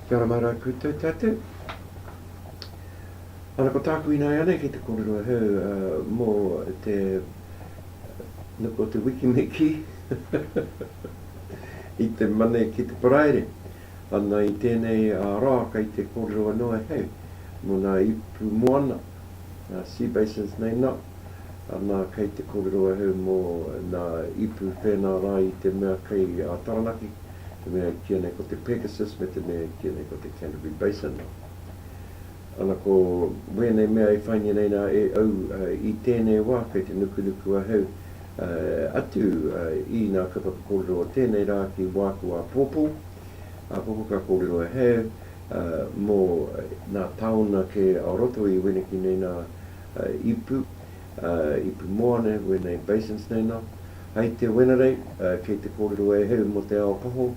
Kia ora mauraa koutou tatou. Ana ko tāku inaianei ki te kōrero e hau mō te nuku o te wikimiki i te mane ki te paraire. Ana i tēnei rā kei te kōrero anō e hei mō ngā ipu moana, ngā sea basins nei nā, ana kei te kōrero e hei mō ngā ipu pēnā rā i te mea kei a Taranaki, te mea e kīia nei ko te Pegasus me te mea e kīia nei ko te Canterbury Basin nā. Ana ko wēnei mea e whaingia nei nā e au i tēnei wā kei te nukunuku a hei atu i nā ka whakakōrero o tēnei rā ki wāku āpōpō, āpōpō ka kōrero e hē, mō nā taona kē o roto i wēneki nei nā ipu, ipu moana e hua nei, basins nei nā. Hai te Wenerei, kei te kōrero e hē mō te ao paho,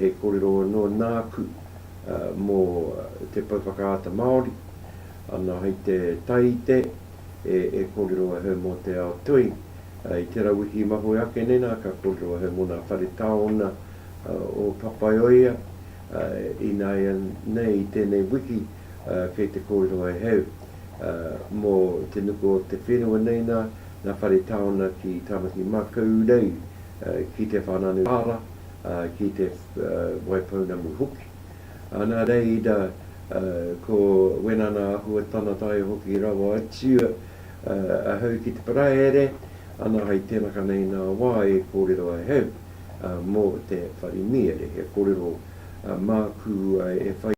he kōrero anō nāku mō te pou whakaata Māori, ana hai te Taite, e kōrero a Her mō te ao toi. I tērā wiki i mahue ake nei nā, ka kōrero a Her mō nā whare taona o Papaioea, ināianei i tēnei wiki kei te kōrero a Her mō te nuku o te whenua nei nā, nā whare taona ki Tāmaki-makau-rau, ki Te Whānau-a-Tara, ki Te Waipounamu hoki. ā, nā Reira, ā, ko Wenana Ahua tana tae hoki rawa atu, ā, ahau ki te Paraire, ana hai tenaka nei nā wā e kōrero ai ahau, ā, mō te whare mīere, he kōrero, ā, māku, ā, e whai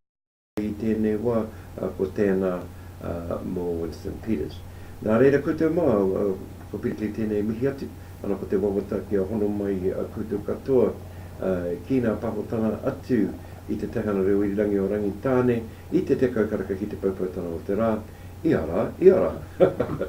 i tēnei wā, ā, ko tēnā, ā, mō Winston Peters. Nā reira koutou māu, ā, ko Pirikai tēnei e mihi atu. Ana ko te wawata kia hono mai a koutou katoa ki ngā tahotanga atu i te Teihana Reo Irirangi o Rangitāne i te tekau karaka ki te poupoutanga o te rā, ia rā, ia rā.